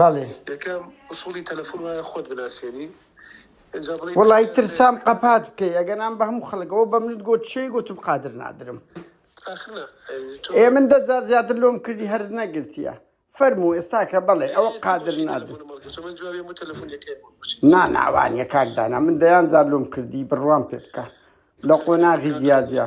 بەڵێ. یەکەم ئوسوڵی تەلەفون وایە خۆت بناسێنی ئینجا بڵێی. وەڵایی ترسام قەپات بکەی ئەگەنام بە هەموو خەڵکەوە بەم نت گۆت چێ گۆتم قادر نادرم. ئاخر نا تۆ. ئێ من دە جار زیاتر لۆم کردی هەرت نەگرتیە. فەرموو ئێستا کە بەڵێ ئەوە قادر نادرم. نا نا وانیە کاک دانا من دەیان جار لۆم کردی بڕوام پێ بکە لە قۆناغی جیا جیا.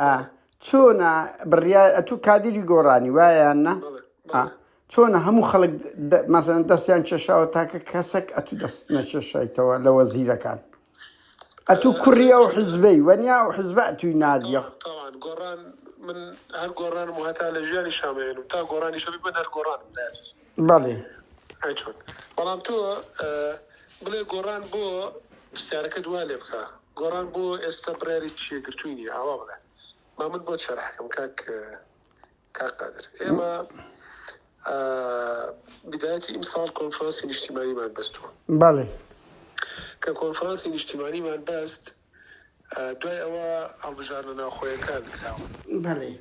ئا چۆنە بڕیار ئەتو کادری گۆڕانی وایان نە چۆنە هەموو خەڵک مەزن دەستیان کێشاوە تاکە کەسێک ئەتو دەست نەکێشایتەوە لە وەزیرەکان ئەتو کوڕی ئەو حزبەی وەنیا و حزب توی نادیە گۆڕان من هەر گۆڕان و هەتا لە ژیانی شامێن و تا گۆڕانی شەبی من هەر گۆڕان بەڵێ بەڵام تۆ بڵێ گۆڕان بۆ پرسیارەکە دوا لێ بکە گۆڕان بۆ ئێستا بڕیارێکی یەکگرتووی نییە ئاوا بڵێ با من بۆت شەرح کەم کاک کاک قادر ئێمە بدایەتی ئیمساڵ کۆنفرانسی نیشتیمانیمان بەستووە بەڵێ کە کۆنفرانسی نیشتیمانیمان بەست دوای ئەوە هەڵبژارنە ناوخۆیەکان کراوە بەڵێ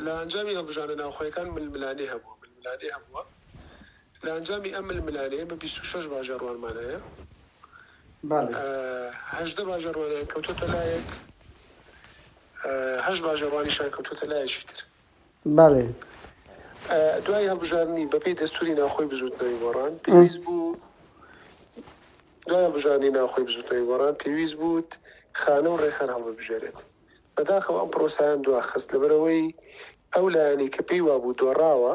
لە ئەنجامی هەڵبژارنە ناوخۆیەکان ململانێ هەبووە ململانێ هەبووە لە ئەنجامی ئەم ململانێ ئێمە بیست و شەش باجە ڕوانمان هەیە هەژدە باجە ڕوانیان کەوتۆتە لایەک هەشت باجە ڕوانیشان کەوتۆتە لایەکی تر دوای هەڵبژاردنی بەپێی دەستوری ناوخۆی بزوتنەوەی گۆڕان پێویست بوو دوای هەڵبژاردنی ناوخۆی بزوتنەوەی گۆڕان پێویست بوت خانە و ڕێکخان هەڵببژێرێت بەداخەوە ئەم پرۆسیان دواخست لەبەرەوەی ئەو لایەنی کە پێی وابوو دۆڕاوە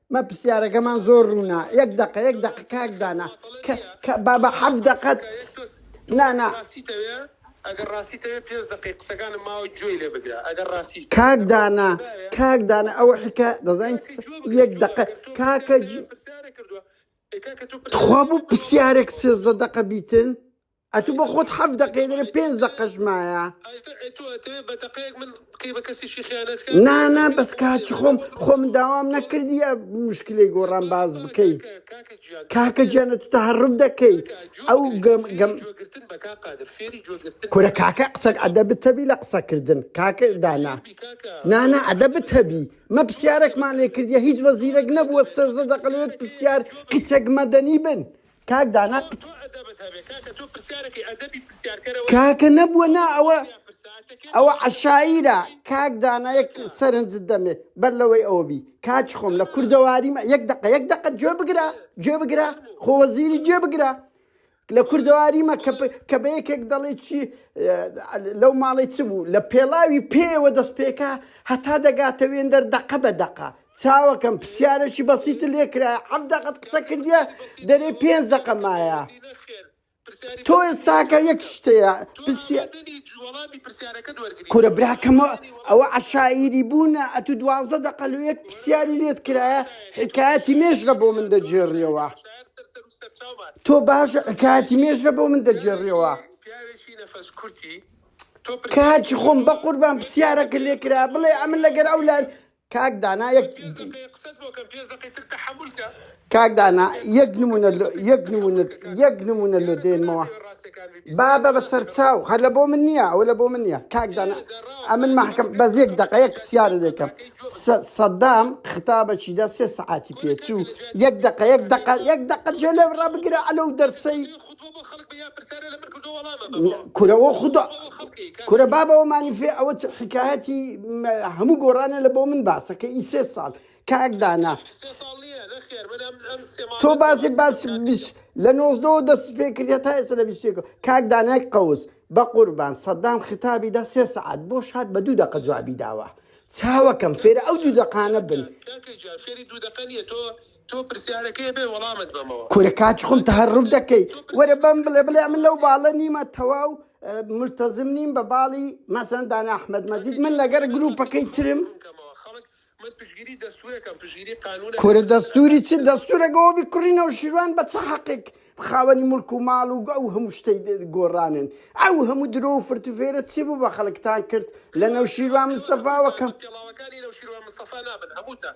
مە پسیارەکەمان زۆر ڕوونە یەک دەقە یەک دەق کاک دانا بابە حەف دەقەت نانا ئەگەر ڕاستیتەوێت پێنج دقی قسەکانم ماوە گوێی لێ بگرە ئەگەر ڕاستی کاک دانا کاک دانا ئەوە حکە دەزانین یەک دقە کاکە خوا بوو پرسیارێک سێزدە دقە بیتن ئەتو بۆ خۆت حەفت دەقەی دەرێ پێنج دەقەش مایە. نا نا بەس کاچی خۆم خۆ من داوام نەکردیە مشکلی گۆڕان باز بکەی کاکە جیانە تو تەهرب دەکەی ئەو گەم گەم کورە کاکە قسەک ئەدە بتەبی لە قسەکردن کاکە دانا نانا ئەدە بتەبی مە پرسیارێکمان لێ کردیە هیچ وەزیرەک نەبووە سەرزە دەقلێت پرسیار کچەک مەدەنی بن کاک دانا کچ. تۆ ئەدەبت هەبێ کاکە تۆ پرسیارەکەی ئەدەبی پرسیارکەرەوە نیە کاکە نەبووە نا ئەوە تکایە پرساتەکەت ئەوە بۆ ئەوەی عەشایرە بکەم کاک دانا یەک کاکە. سەرنجت دەمێ بەر لەوەی ئەوە بی کاچ خۆم لە دەرباز. کوردەواری مە یەک دەقە یەک دەقە گوێ بگرە بەڵێ گوێ بگرە فەرموو خۆ وەزیری گوێ فەرموو بگرە لە بەڵێ کوردەواری مە کە بڵێ کە بە یەکێک دەڵێ چی ە، لەو ماڵەی چ بوو لە پێڵاوی پێیەوە دەست پێکا هەتا دەگاتە وێندەر دەقە بە دەقە چاوەکەم پسیارەکی بەسیتت لێ کرایە حەفت دەقەت قسە کردیە دەرێ پێنج دەقە مایە تۆ ئێستاکە یەک شتەیە کورە براکەمە ئەوە عشاعیری بوونە ئەتو دوازدە دەقە لە یەک پرسیاری لێت کرایە حکایەتی مێژرە بۆ من دەجێڕیەوە تۆ باش حکایەتی مێژرە بۆ من دەجێڕیەوە کاچی خۆم بە قوربان پرسیارەکە لێ کرا بڵێ ئەمن لەگەر ئەو لای کاک دانا یەک پێنج دەقەیە قسەت بۆ کەم پێنج دەقەی تر تەحەمول کە کاک دانا یەک نمونە لۆ یەک نمونە یەک نمونە لۆ دێنمەوە با بە بە سەرچاو هەر لە بۆ من نییە ئەوە لە بۆ من نییە کاک دانا ئەمن مەحکەم بەس یەک دەقە یەک پرسیارە دەکەم سە- سەدام خطابەکی دا سێ سەعاتی پێچوو یەک دەقە یەک دەقە یەک دەقە جێ لێ ڕابگرە ئەلەو دەرسەی کورە وە خودۆ کورە بابەوە مانیفێ ئەوە چ حکایەتی هەموو گۆڕانە لە بۆ من باسەکە ئی سێ ساڵ کاک دانا تۆ بازێ باس لە نۆزدەوە دەست پێ کردە تا ئێستا لە بیستێکە کاک دانای قەوس بە قوربان سەدام خطابی دا سێ سەعات بۆ شاد بە دوو دەقە جوابی داوە چاوەکەم فێرە ئەو دوو دەقانە بن تۆ پرسیارەکەی بێ وەڵامت بەمەوە. کورە کاچ خۆم تەهەڕوف دەکەی وەرە بەم بڵێ بڵێ من لەو باڵە نیمە تەواو ملتەزم نیم بە باڵی مەسەن دانا ئەحمەد مەجید من لەگەر گروپەکەی ترم من پشگیری دەستورەکەم پشگیری قانون کورە دەستوری چ دەستورەگەەوە بی کوڕی نەوشیروان بە چ حەقێک خاوەنی ملک و ماڵ و ئەو هەموو شتەی گۆڕانن ئەو هەموو درۆ و فرت و فێرە چی بوو بە خەڵکتان کرد لە نەوشیروان مستەفاوەکەم پێڵاوەکانی نەوشیروان مستەفا نابن هەمووتان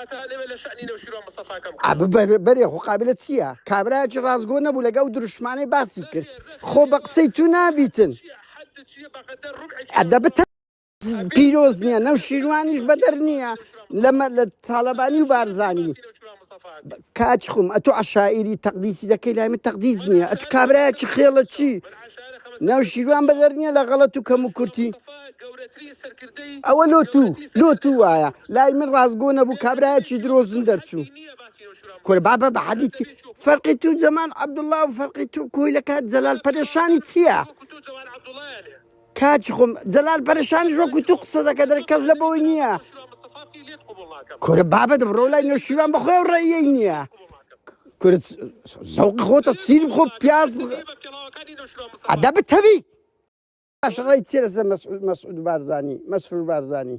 هەتا لەوێ لە شەئنی نەوشیروان مستەفا کەم کەرەوە. ئەبو بەرێ خۆ قابلە چیە کابرایەکی ڕاستگۆ نەبوو لەگە ئەو دروشمانەی باسی کرد خۆ بە قسەی تو نابیتن ئەدەبت هەیە پیرۆز نیە نەوشیروانیش بەدەر نیە لە تالەبانی و بارزانی کاچ خم ئەتو عەشائیری تەقدیسی دەکەی لای من تەقدیس نییە ئەتو کابرایە چ خێڵە چی ناوشیروان بەدەر نییە لە غەڵەت و کەم و کورتی ئەوە لۆ تو لۆ تو وایە لای من ڕاستگۆ نەبوو کابرایەکی درۆزن دەرچوو کورە بابە بە حەدیثی فەرقی تو زەمان عەبدوڵڵا و فەرقی تو کۆیلەکە جەلال پەرێشانی چییە؟ کاچی خۆم جەلال پەرشانیش وەکو تو قسە دەکە دەر کەس لە بەوەی نییە کورە بابە دەبڕۆ لای نەوشیران بەخۆی و ڕێی نییە کورە زەوق خۆتە سیر خۆ پیاز ئەدا بتەوی باش ڕێی چێ لەسەر مەسعود بارزانی مەسرور بارزانی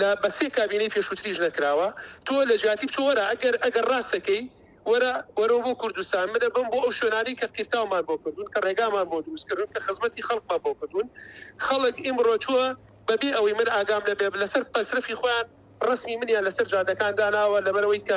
لە بە سێ کابینەی پێشووتریش نەکراوە تۆ لە جیاتی بچۆ وەرە ئەگەر ئەگەر ڕاست دەکەی وەرە وەرەوە بۆ کوردستان منە بم بۆ ئەو شوێنانی کە قیرتاومان بۆ کردوون کە ڕێگامان بۆ دروست کردوون کە خزمەتی خەڵکمان بۆ کردوون خەڵک ئیمڕۆ چووە بەبێ ئەوەی من ئاگام لەبێ لەسەر پەسرەفی خۆیان ڕسمی منیان لەسەر جادەکان داناوە لەبەرەوەی کە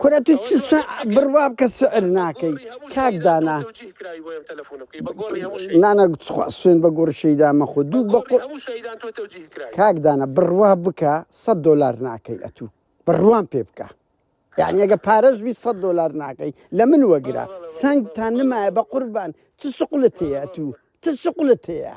کورە تو چ سە بڕوا بکە سعر ناکەی کاک دانا نانا تخوا سوێن بە گۆڕی شەیدا مەخۆ دوو بە قو کاک دانا بڕوا بکە سەد دۆلار ناکەی ئەتو بڕوام پێ بکە یعنی ئەگە پارەش بی سەد دۆلار ناکەی لە من وەگرە سنگ تا نمایە بە قوربان چ سقلت هەیە ئەتو چ سقلت هەیە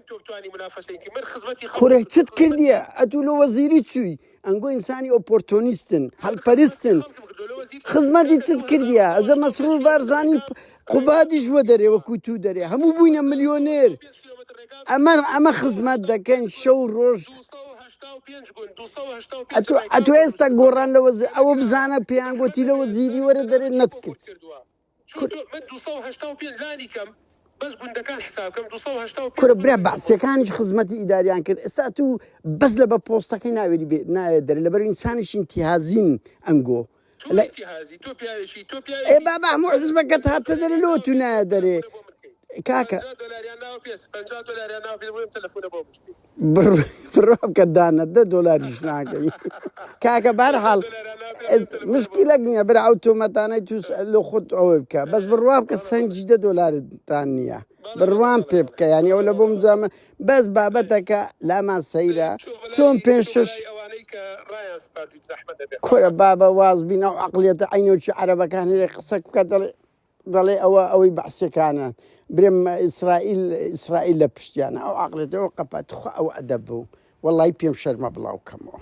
کوڕێ چت کردیە ئەتوو لۆ وەزیری چووی ئەنگۆ ئینسانی ئۆپۆرتۆنیستن هەلپەرستن خزمەتی چت کردیە ئەزە مەسرور بارزانانی قوبادیش وە دەرێ وەکو تو دەرێ هەموو بووینە ملیۆنێر ئەمە ئەمە خزمەت دەکەین شەو ڕۆژ ئەتو ئێستا گۆڕان لەوە ئەوە بزانە پێیان گوتی لەوە زیری وەرە دەرێ نەتکرد. کورە کورە برا بەعسیەکانیش خزمەتی ئیداریان کرد ئێستا تو بەس لە بە پۆستەکەی ناوێری بێت ناوێت دەر لەبەر ئینسانیش ئینتیهازین ئەنگۆ ئێ بابا هەموو حزبەکەت هاتە دەرێ لۆ تو نایە دەرێ کاکە بڕۆکە دانە دە دۆلاریش ناکەی کاکە بارحاڵ مشکیلەک نییە برا ئەو تۆمەتانەی تووس لە خۆت ئەوەی بکە بەس بڕوا بکە سنجی دە دۆلارتان نییە بڕوان پێ بکە یانی ئەو لە بۆم جامە بەس بابەتەکە لامان سەیرە چۆن پێ شش کورە بابە واز بینە و عقلێتە عینۆکی عربەکان هەیە قسەک بکە دەڵێ دەڵێ ئەوە ئەوەی بەعسیەکانە برێم ئیسرائیل ئیسرائیل لە پشتیانە ئەو عقلێت ئەو قەپە تخوا ئەو ئەدەب بوو وەڵی پێم شەرمە بڵاو کەمەوە.